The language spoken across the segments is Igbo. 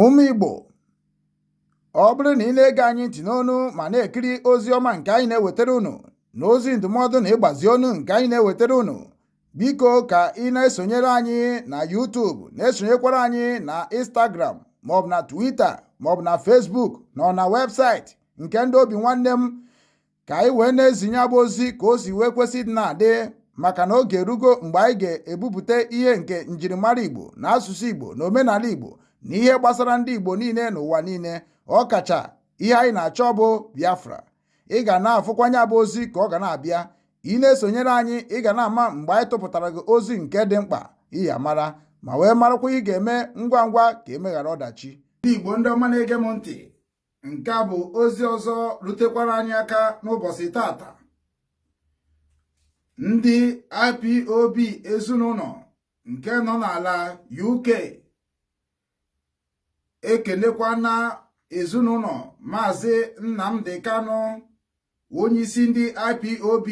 Ụmụ Igbo ọ bụrụ na ị na-ege anyị ntị n'onu ma na-ekiri ozi ọma nke anyị na-ewetara unu na ozi ndụmọdụ na ịgbazi ọnụ nke anyị na-ewetara unu biko ka ị na-esonyere anyị na YouTube na-esonyekwara anyị na Instagram maọbụ na Twitter maọbụ na Facebook na ọ na webụsaịtị nke ndị Obinwannem ka anyị wee na-ezi nya bụ ozi ka o si wee kwesị ịdị na-adị maka na oge erugo mgbe anyị ga-ebupụta ihe nke njirimara Igbo na asụsụ Igbo na omenala Igbo na ihe gbasara ndị Igbo niile n'ụwa niile ọ kacha ihe anyị na-achọ bụ Biafra ị ga na-afụkwa nya bụ ozi ka ọ ga na-abịa ị na-esonyere anyị ị ga na-ama mgbe anyị tụpụtara gị ozi nke dị mkpa ị ya-amara ma wee marakwa ihe ị ga-eme ngwa ngwa ka e meghara ọdachi ndị Igbo ndị ọma na-ege m ntị nke a bụ ozi ọzọ rutekwara anyị aka n'ụbọchị tata ndị IPOB ezinụlọ nke nọ n'ala UK ekenekwana ezinụlọ maazị Nnamdi Kanu onyeisi ndị IPOB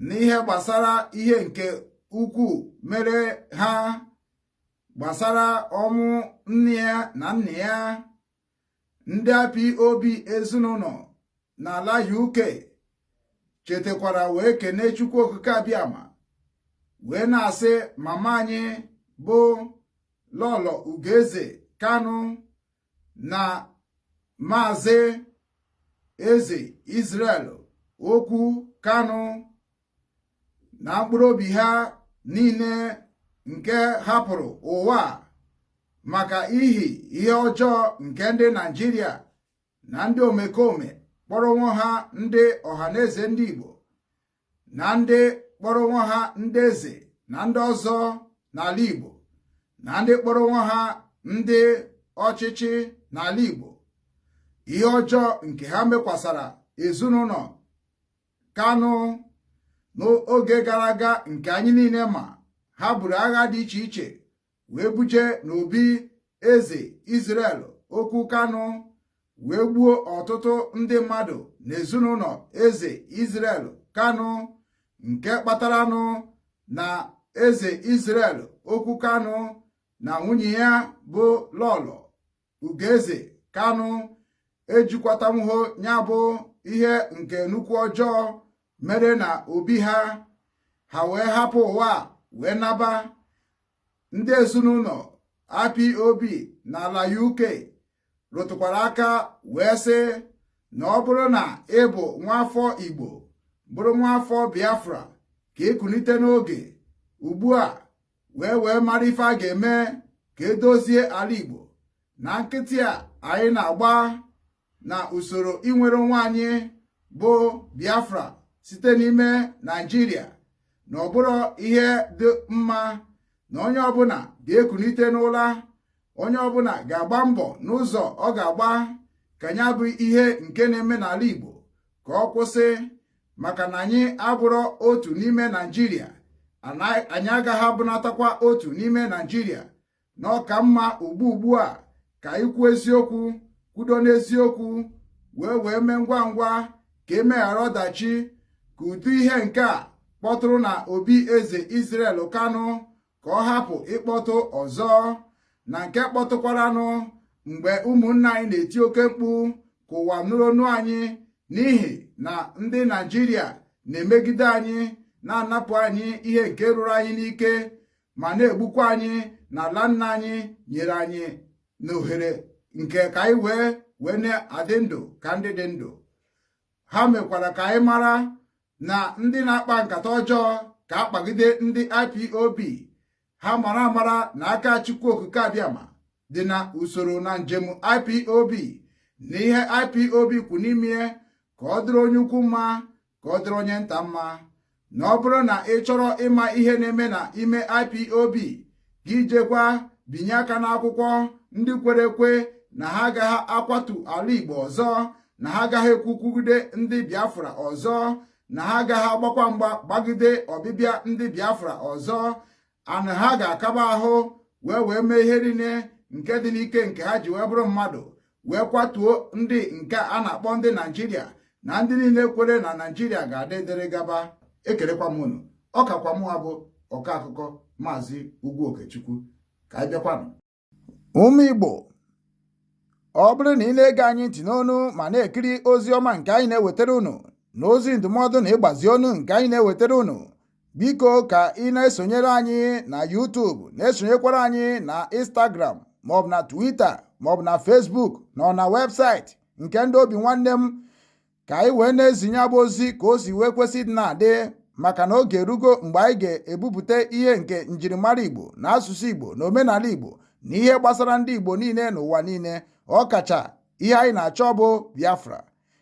n'ihe gbasara ihe nke ukwu mere ha gbasara ọnwụ nne ya na nna ya ndị IPOB ezinụlọ n'ala UK chetakwara wee kene Chukwu Okike Abịama wee na-asị mama anyị bụ Lọlọ Ugoeze Kanu na Maazị Eze Israel Okwu Kanu na mkpụrụ obi ha niile nke hapụrụ ụwa a maka ihi ihe ọjọọ nke ndị Naịjirịa na ndị omekome kpọrọ onwe ha ndị Ọhaneze ndị Igbo na ndị kpọrọ onwe ha ndị eze na ndị ọzọ n'ala Igbo na ndị kpọrọ onwe ha ndị ọchịchị n'ala Igbo ihe ọjọọ nke ha mekwasara ezinụlọ Kanu n'oge gara aga nke anyị niile ma ha buru agha dị iche iche wee buje n'obi eze Israel Okwu Kanu wee gbuo ọtụtụ ndị mmadụ n'ezinụlọ eze Israel Kanu nke kpataranụ na eze Israel Okwu Kanu na nwunye ya bụ Lọlọ Ugoeze Kanu ejikwatanwuho nya bụ ihe nke nnukwu ọjọọ mere na obi ha ha wee hapụ ụwa a wee naba ndị ezinụlọ IPOB n'ala UK rụtụkwara aka wee sị na ọ bụrụ na ị bụ nwaafọ Igbo bụrụ nwaafọ Biafra ka i kunite n'oge ugbu a wee wee mara ife a ga-eme ka e dozie ala Igbo na nkịtị a anyị na-agba na usoro inwere onwe anyị bụ Biafra site n'ime Naịjirịa na ọ bụrọ ihe dị mma na onye ọbụla ga-ekunite n'ụla onye ọbụla ga-agba mbọ n'ụzọ ọ ga-agba ka ya bụ ihe nke na-eme n'ala Igbo ka ọ kwụsị maka na anyị abụrọ otu n'ime Naịjirịa anyị agaghị abụnatakwa otu n'ime Naịjirịa na ọ ka mma ugbu ugbu a ka anyị kwuo eziokwu kwudo n'eziokwu wee wee mee ngwa ngwa ka e meghara ọdachi ka ụdị ihe nke a kpọtụrụ na obi eze Israel Kanu ka ọ hapụ ịkpọtụ ọzọ na nke kpọtụkwaranụ mgbe ụmụnna anyị na-eti oke mkpu ka ụwa nụrụ onu anyị n'ihi na ndị Naijiria na-emegide anyị na-anapụ anyị ihe nke ruru anyị n'ike ma na-egbukwa anyị na ala nna anyị nyere anyị na ohere nke ka anyị wee wee na-adị ndụ ka ndị dị ndụ ha mekwara ka anyị mara na ndị na-akpa nkata ọjọọ ka a kpagide ndị IPOB ha mara amara na aka Chukwu Okike Abịama dị na usoro na njem IPOB na ihe IPOB kwụ n'ime ka ọ dịrị onye ukwu mma ka ọ dịrị onye nta mma na ọ bụrụ na ị chọrọ ịma ihe na-eme na ime IPOB gị jekwa binye aka n'akwụkwọ ndị kwere ekwe na ha agaghị akwatu ala Igbo ọzọ na ha agaghị ekwukwugide ndị Biafra ọzọ na ha agaghị agbakwa mgba gbagide ọbịbịa ndị Biafra ọzọ ana ha ga-akaba ahụ wee wee mee ihe niile nke dị n'ike nke ha ji wee bụrụ mmadụ wee kwatuo ndị nke a na-akpọ ndị naijiria na ndị niile kwere na naijiria ga-adị dịrị gaba ekelekwa m unu ọ kakwa mụwa bụ ọkọ akụkọ maazị ugwu okechukwu ka anyị bịakwanụ ụmụ igbo ọ bụrụ na ị na-ege anyị ntị n'onu ma na-ekiri ozi ọma nke anyị na-ewetara unu na ozi ndụmọdụ na ịgbazi ọnụ nke anyị na-ewetara unu Biko ka ị na-esonyere anyị na YouTube na-esonyekwara anyị na Instagram maọbụ na Twitter maọbụ na Facebook na ọ na website nke ndị Obinwannem ka anyị wee na-ezinye ya bụ ozi ka o si wee kwesị dị na-adị maka na oge erugo mgbe anyị ga-ebupụta ihe nke njirimara Igbo na asụsụ Igbo na omenala Igbo na ihe gbasara ndị Igbo niile n'ụwa niile ọ kacha ihe anyị na-achọ bụ Biafra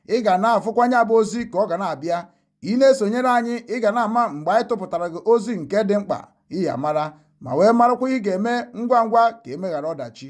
ị ga na-afụkwa ya bụ ozi ka ọ ga na-abịa ị na-esonyere anyị ị ga na-ama mgbe anyị tụpụtara gị ozi nke dị mkpa ị ya amara ma wee marakwa ị ga-eme ngwa ngwa ka e meghara ọdachi